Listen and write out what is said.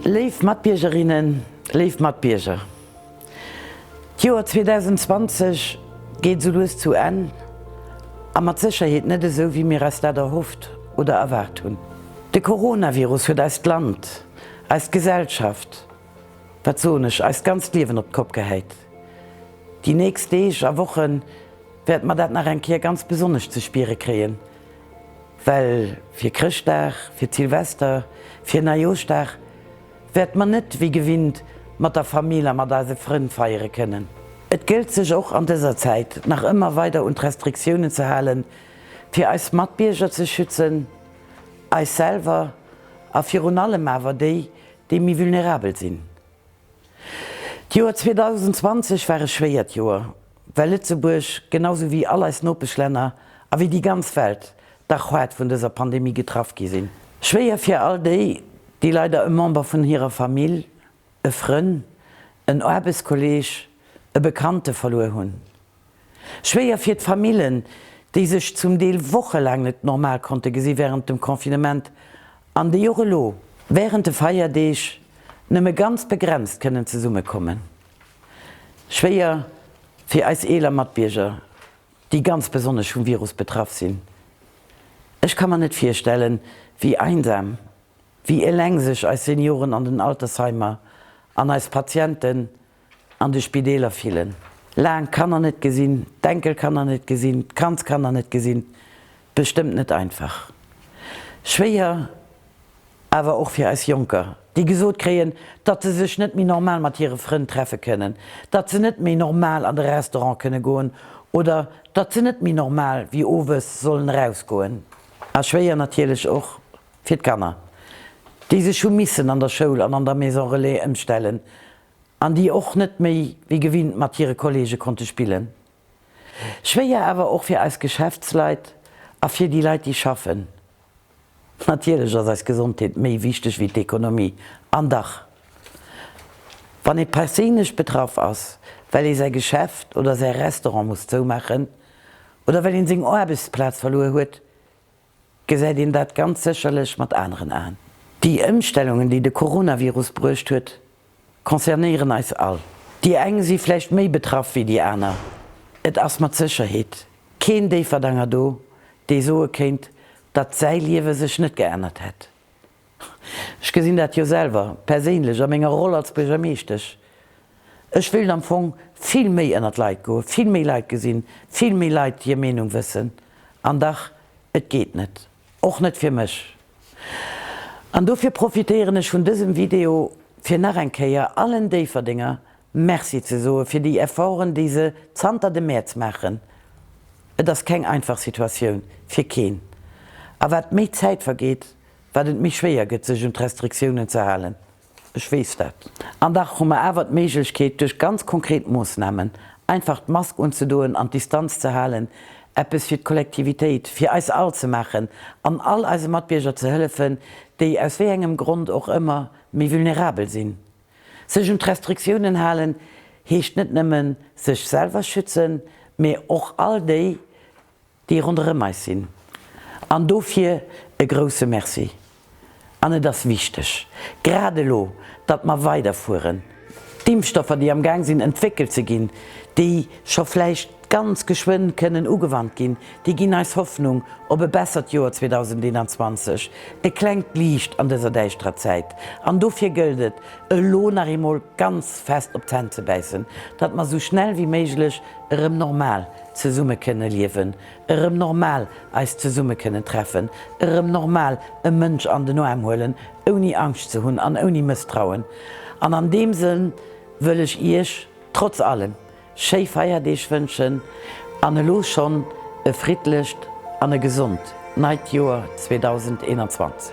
Léif Matbiergerinnen, léif Matbierger, d'Joer 2020 geet esou lues zu Enn a mat Sécherheet net esou, wéi mir eis dat erhofft oder erwaart hunn. De Coronavirus huet eist Land, eis Gesellschaft, Wat soen ech, eist ganzt Liewen op d'Kopp gehäit. Déi nächst Deeg a Woche wäerte mer dat nach eng Kéier ganz besonnesch ze spiere kréien, well fir Chrëschtdag, fir d'Silvester, fir Neijooschdag wäerte mer net wéi gewinnt mat der Famill a mat eise Frënn feiere kënnen. Et gëllt sech och an dëser Zäit nach ëmmer weider un d'Restriktiounen ze halen, fir eis Matbierger ze schützen, eis selwer a virun allem awer déi, déi méi vulnerabel sinn. D'Joer 2020 war e schwéiert Joer, well Lëtzebuerg, genau sou wéi all eis Nopeschlänner a wéi déi ganz Welt, dach haart vun dëser Pandemie getraff gi sinn. Schwéier fir all déi, déi leider e Member vun hirer Famill, e Frënn, en Aarbechtskolleeg, e Bekannte verluer hunn. Schwéier fir d'Famillen, déi sech zum Deel wochelaang net normal konnte gesi wärend dem Confinement an déi och elo wärend de Feierdeeg nëmme ganz begrenzt kënnen zesummekommen. Schwéier fir eis eeler Matbierger, déi ganz besonnesch vum Virus betraff sinn. Ech ka mer net virstellen, wéi einsam, wéi eleng sech eis Senioren an den Altersheimer an eis Patienten an de Spideeler fillen. Laang Kanner net gesinn, d'Enkelkanner net gesinn, d'Kandskanner net gesinn, bestëmmt net einfach. Schwéier awer och fir eis Jonker, déi gesot kréien, datt se sech net méi normal mat hire Frënn treffe kënnen, datt se net méi normal an de Restaurant kënne goen oder datt se net méi normal wéi owes sollen erausgoen. A schwéier natierlech och Fir d'Kanner, déi sech hu missen an der Schoul an an der Maison Relais ëmstellen an déi och net méi wéi gewinnt mat hire Kolleege konnte spillen. Schwéier awer och fir eis Geschäftsleit a fir déi Leit, déi schaffen. Natierlech ass eis Gesondheet méi wichteg wéi d'Ekonomie. An dach, wann ee perséinlech betraff ass, well ee säi Geschäft oder säi Restaurant muss zoumaachen oder well een seng Aarbechtsplaz verluer huet, gesäit een dat ganz sécherlech mat aneren Aen. Déi Ëmstellungen, déi de Coronavirus bruecht huet, concernéieren eis all. Déi eng si vläicht méi betraff wéi déi aner. Et ass mat Sécherheet keen Déifferdanger do, dee soe kéint, datt säi Liewe sech net geännert hätt. Ech gesinn dat jo selwer perséinlech a menger Roll als Buergermeeschtesch. Ech wéilt am Fong vill méi ënnert d'Leit goen, vill méi Leit gesinn, vill méi Leit hir Meenung wëssen. An dach, et geet net, och net fir mech. An dofir profitéieren ech vun dësem Video, fir nach eng Kéier allen Déifferdenger Merci ze soe fir déi Efforten, déi se zanter dem Mäerz maachen. Et ass keng einfach Situatioun, fir keen. A wat méi Zäit vergeet, Wat et méi schwéier gëtt, sech un d'Restriktiounen ze halen, ech weess dat. An dach hu mer awer d'Méiglechkeet, duerch ganz konkret Moossnamen, einfach d'Mask unzedoen an d'Distanz ze halen, eppes fir d'Kollektivitéit, fir eis all ze maachen an all eise Matbierger ze hëllefen, déi aus wéi engem Grond och ëmmer méi vulnerabel sinn. Sech un d'Restriktiounen halen heescht net nëmmen sech selwer schützen, mä och all déi, déi ronderëm eis sinn, an dofir e grouse Merci. An et ass wichteg, grad elo, datt mer weiderfueren. D'Impfstoffer, déi am Gaang sinn entwéckelt ze ginn, déi scho vläicht ganz geschwënn kënnen ugewannt ginn, déi ginn eis Hoffnung op e bessert Joer 2021, e klengt Liicht an dëser däischterer Zäit. An dofir gëllt et, elo nach eemol ganz fest op d'Zänn ze bäissen, datt mer esou schnell wéi méiglech erëm normal Zesumme kënne liewen, erëm normal eis zesumme kënnen treffen, erëm normal e Mënsch an den Aarm huelen, ouni Angscht ze hunn an ouni Mësstrauen. An an deem Sënn wëll ech Iech trotz allem schéi Feierdeeg wënschen an elo schonn e friddlecht an e gesond neit Joer 2021.